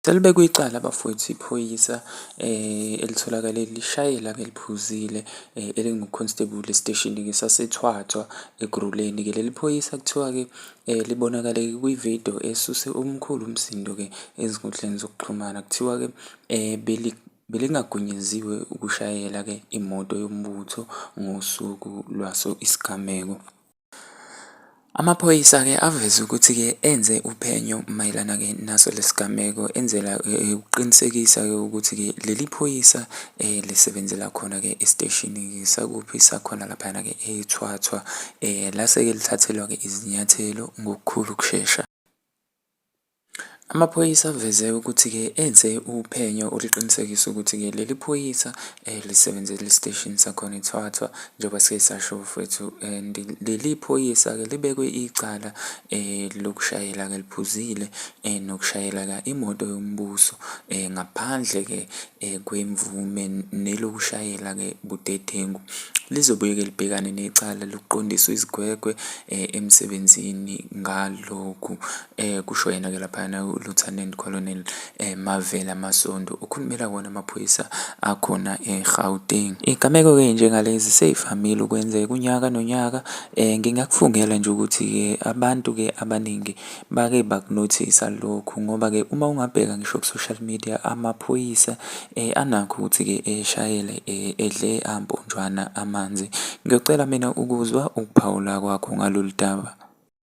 Selibekwe icala bafwethu iphoyisa elitholakale lishayela beliphuzile elinguConstable esiteshini-ke saseThwathwa eGruleni-ke. Leli phoyisa kuthiwa-ke libonakale kwi-video esuse omkhulu umsindo-ke ezinkundleni zokuxhumana. Kuthiwa-ke belingagunyaziwe ukushayela-ke imoto yombutho ngosuku lwaso isigameko. Amaphoyisa-ke aveze ukuthi-ke enze uphenyo mayelana-ke naso lesi gameko enzela ukuqinisekisa-ke ukuthi-ke leli phoyisa lisebenzela khona-ke esiteshini sakuphi sakhona laphayana-ke eThwathwa lase-ke lithathelwa-ke izinyathelo ngokukhulu ukushesha. Amaphoyisa aveze ukuthi-ke enze uphenyo oluqinisekisa ukuthi-ke leli phoyisa lisebenze lisiteshini sakhona eThwathwa njengoba sike sasho mfwethu and leli phoyisa-ke libekwe icala lokushayela-ke liphuzile nokushayela-ke imoto yombuso ngaphandle-ke kwemvume nelokushayela-ke budedengu lizobuye-ke libhekane necala lokuqondiswa izigwegwe emsebenzini ngalokhu, kusho yena-ke laphayana uLieutenant Colonel Mavela Masondo okhulumela wona amaphoyisa akhona eGauteng. Iy'gameko-ke njengalezi sey'vamile ukwenzeka unyaka nonyaka. Ngingakufungela nje ukuthi-ke abantu-ke abaningi bake bakunothisa lokhu ngoba-ke uma ungabheka ngisho ku-social media amaphoyisa um anakho ukuthi-ke eshayele um edle amponjwana amanzi. Ngiyocela mina ukuzwa ukuphawula kwakho ngalolu daba.